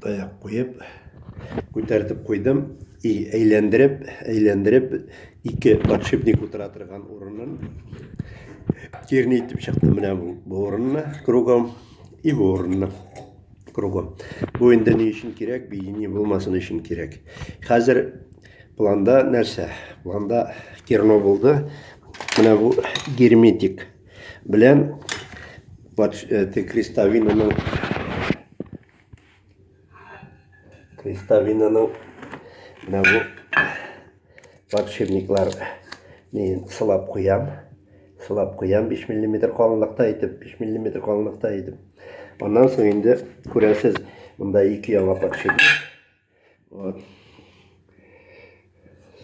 Таяк куеп, күтәртеп куйдым. И әйләндереп, әйләндереп, ике подшипник утыра торган урынын тирни итеп чыктым менә бу, бу урынны кругом и бу урынны кругом. Бу инде ни өчен кирәк, бейни булмасын өчен кирәк. Хәзер планда нәрсә? Планда керно булды. Менә бу герметик. Белән э, крестовинаның крестовинаның менә бу подшипниклар мин сылап куям сылап куям 5 миллиметр калынлыкта итеп 5 миллиметр калынлыкта итеп аннан соң инде күрәсез монда ике яңа подшипник Вот.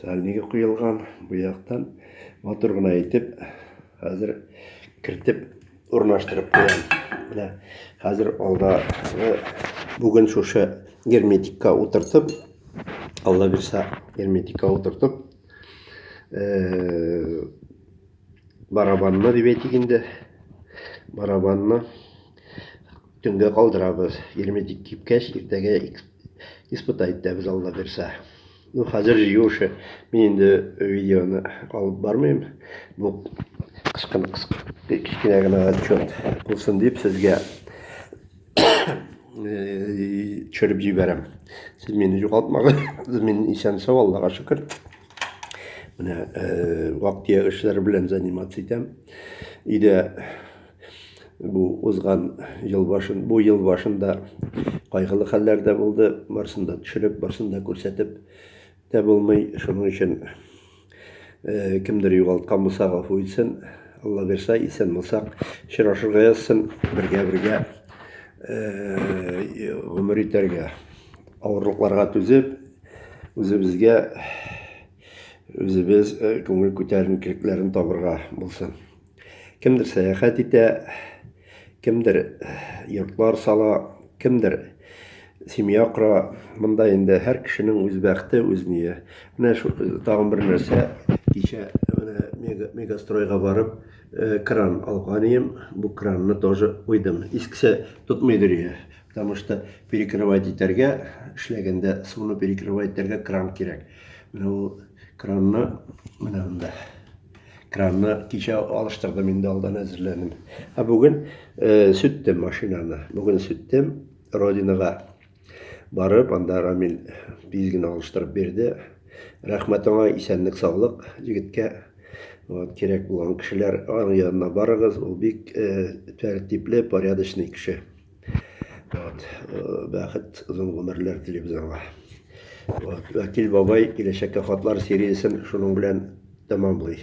Сальнигы куелган бу яктан матур гына итеп хәзер кертеп урнаштырып куям. Менә хәзер алда бүген шушы герметикка утыртып, алла бирса, герметикка утыртып, э, Барабанны дип әйтик инде. Барабанны төнгә калдырабыз. Герметик кипкәч, иртәгә испытать итәбез Алла бирсә. Ну, хәзер җыю эше. Мин инде видеоны алып бармыйм. Бу кышкын кечкенә генә отчет булсын дип сезгә төшереп җибәрәм. Сез мине югалтмагыз. Мин исән-сау, Аллага шөкер. Менә э, вак-төяк эшләр белән заниматься итәм. Өйдә бу узган ел башын, бу ел башында кайгылы хәлләр дә булды. Барсын да төшереп, барсын да күрсәтеп дә булмый. Шуның өчен э, кемдер югалткан булса, гафу итсен. Алла бирса, исән булсак, очрашырга язсын, бергә-бергә э, гомер итәргә. Авырлыкларга түзеп, Үзебезгә үзебез э, күңел күтәренкелекләрен табырга булсын. Кемдер сәяхәт итә, кемдер э, йортлар сала, кемдер семья кора. Монда инде һәр кешенең үз бәхте, үз ние. Менә шу э, тагын бер нәрсә кичә менә мегастройга барып кран алган идем. Бу кранны тоже куйдым. Искесе тотмый дөрия. Потому что перекрывать итәргә, эшләгәндә суны перекрывать итәргә кран кирәк. Менә ул кранны менә монда. Кранны кичә алыштырдым инде алдан әзерләдем. Ә бүген э, сүттем машинаны. Бүген сүттем Родинага барып, анда Рамил тиз генә алыштырып бирде. Рәхмәт аңа, исәнлек, саулык егеткә. Вот, кирәк булган кешеләр аның янына барыгыз. Ул бик э, тәртипле, порядочный кеше. Вот. Э, бәхет, озын гомерләр телибез аңа. Вот. Вәкил бабай киләчәккә хатлар сериясен шуның белән тәмамлый.